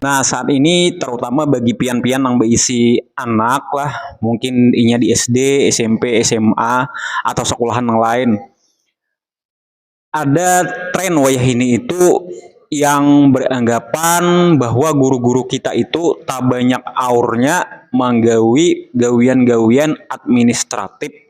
Nah saat ini terutama bagi pian-pian nang beisi anak lah mungkin inya di SD, SMP, SMA atau sekolahan nang lain ada tren wayahini itu yang beranggapan bahwa guru-guru kita itu tabanyak aurnya manggawi gawian-gawian administratif.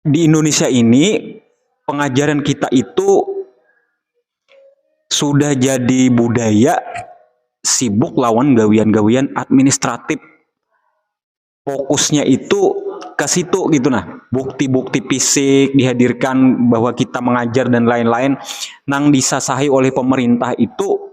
di Indonesia ini pengajaran kita itu sudah jadi budaya sibuk lawan gawian-gawian administratif. Fokusnya itu ke situ gitu nah. Bukti-bukti fisik dihadirkan bahwa kita mengajar dan lain-lain nang disasahi oleh pemerintah itu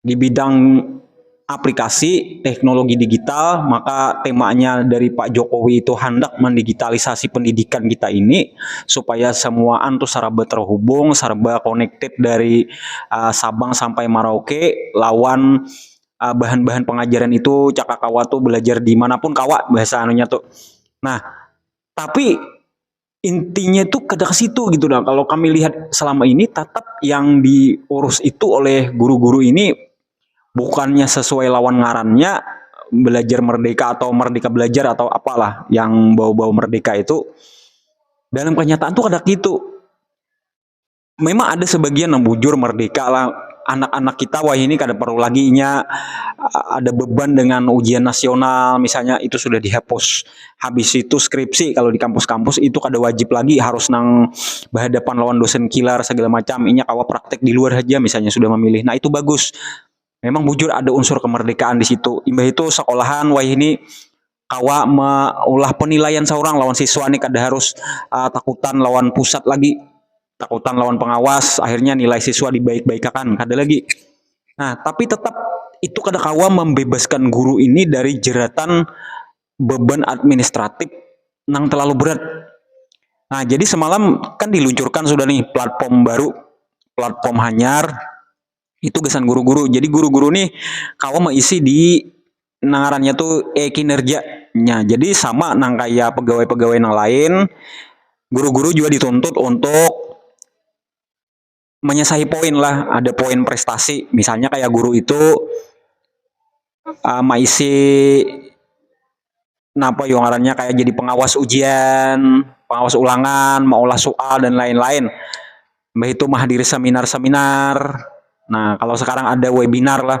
di bidang aplikasi teknologi digital, maka temanya dari Pak Jokowi itu handak mendigitalisasi pendidikan kita ini supaya semuaan tu serba terhubung, serba connected dari Sabang sampai Merauke lawan bahan-bahan pengajaran itu cakak kawa tu belajar di mana pun kawa bahasa anunya tu. Nah, tapi. intinya itu kada ke situ gitu nah kalau kami lihat selama ini tetap yang diurus itu oleh guru-guru ini bukannya sesuai lawan ngarannya belajar merdeka atau merdeka belajar atau apalah yang bau-bau merdeka itu dalam kenyataan tuh kada gitu memang ada sebagian yang bujur merdeka lah anak-anak kita wah ini kada perlu lagi nya ada beban dengan ujian nasional misalnya itu sudah dihapus habis itu skripsi kalau di kampus-kampus itu kada wajib lagi harus nang berhadapan lawan dosen killer segala macam inya kawa praktek di luar saja misalnya sudah memilih nah itu bagus memang bujur ada unsur kemerdekaan di situ imbah itu sekolahan wah ini kawa maulah penilaian saurang lawan siswa ni kada harus takutan lawan pusat lagi, takutan lawan pengawas akhirnya nilai siswa dibaik-baikakan kada lagi. Nah tapi tetap itu kada kawa membebaskan guru ini dari jeratan beban administratif nang terlalu berat. Nah jadi semalam kan diluncurkan sudah nih platform baru, platform hanyar itu gasan guru-guru. Jadi guru-guru nih kawa meisi di nang ngarannya tu e-kinerja. Nya, jadi sama nang kaya pegawai-pegawai nang lain, guru-guru jua dituntut untuk manyasahi poin lah, ada poin prestasi. Misalnya kaya guru itu um maisi napa yu ngarannya kaya jadi pengawas ujian, pengawas ulangan, maulah sual dan lain-lain. Mbah itu mahadiri seminar-seminar. Nah, kalau sekarang ada webinar lah.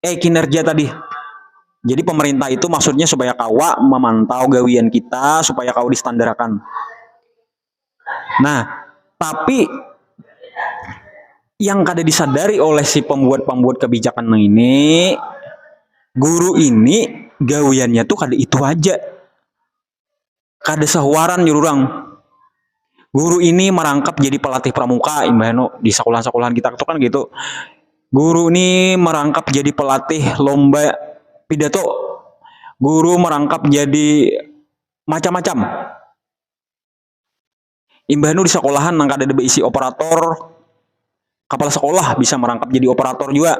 eh kinerja tadi jadi pemerintah itu maksudnya supaya kawa memantau gawian kita supaya kawa distandarkan nah tapi yang kada disadari oleh si pembuat-pembuat kebijakan ini guru ini gawiannya tuh kada itu aja kada sahuaran jar urang. Guru ini marangkap jadi pelatih pramuka imbahnya no di sekolahan-sekolahan kita tu kan gitu. Guru ni marangkap jadi pelatih lomba pidato. Guru marangkap jadi macam-macam. Imbah nu di sekolahan nang kadada beisi operator, kapala sekolah bisa merangkap jadi operator jua.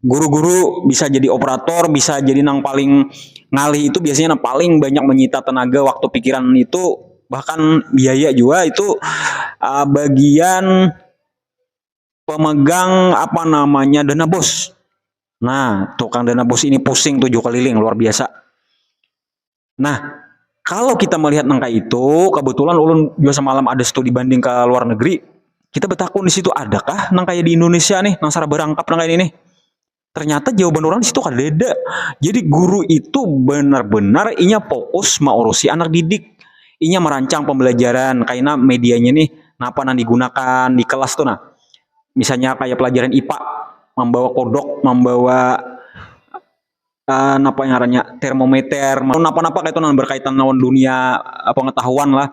Guru-guru bisa jadi operator, bisa jadi nang paling ngalih itu biasanya nang paling banyak menyita tenaga, waktu, pikiran itu bahkan biaya jua itu uh, bagian pemegang apa namanya dana bos. Nah, tukang dana bos ini pusing tujuh keliling luar biasa. Nah, kalau kita melihat nang kayak itu, kebetulan ulun juga semalam ada studi banding ke luar negeri, kita bertakun di situ adakah nang kayak di Indonesia nih, nang sara berangkap nang kayak ini nih. Ternyata jawaban orang di situ kadada. Jadi guru itu benar-benar inya fokus maurusi anak didik. Inya merancang pembelajaran, kaina medianya nih, napa nang digunakan di kelas tuh nah. Misalnya kayak pelajaran IPA, membawa kodok, membawa uh, napa ngarannya termometer napa-napa kayak itu nah berkaitan lawan dunia uh, pengetahuan lah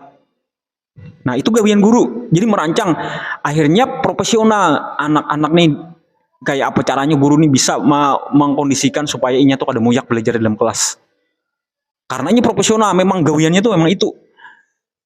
nah itu gawian guru jadi merancang akhirnya profesional anak-anak nih kayak apa caranya guru nih bisa mengkondisikan supaya inya tuh kada muyak belajar dalam kelas karena ini profesional memang gawiannya tuh memang itu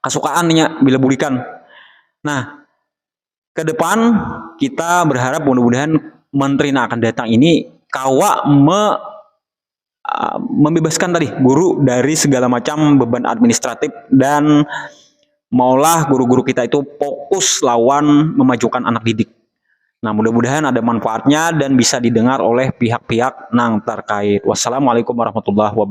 kasukaan nya bila bulikan nah ke depan kita berharap mudah-mudahan menteri nang akan datang ini kawa me um membebaskan tadi guru dari segala macam beban administratif dan maulah guru-guru kita itu fokus lawan memajukan anak didik nah mudah-mudahan ada manfaatnya dan bisa didengar oleh pihak-pihak nang terkait. Wassalamualaikum warahmatullahi wabarakatuh.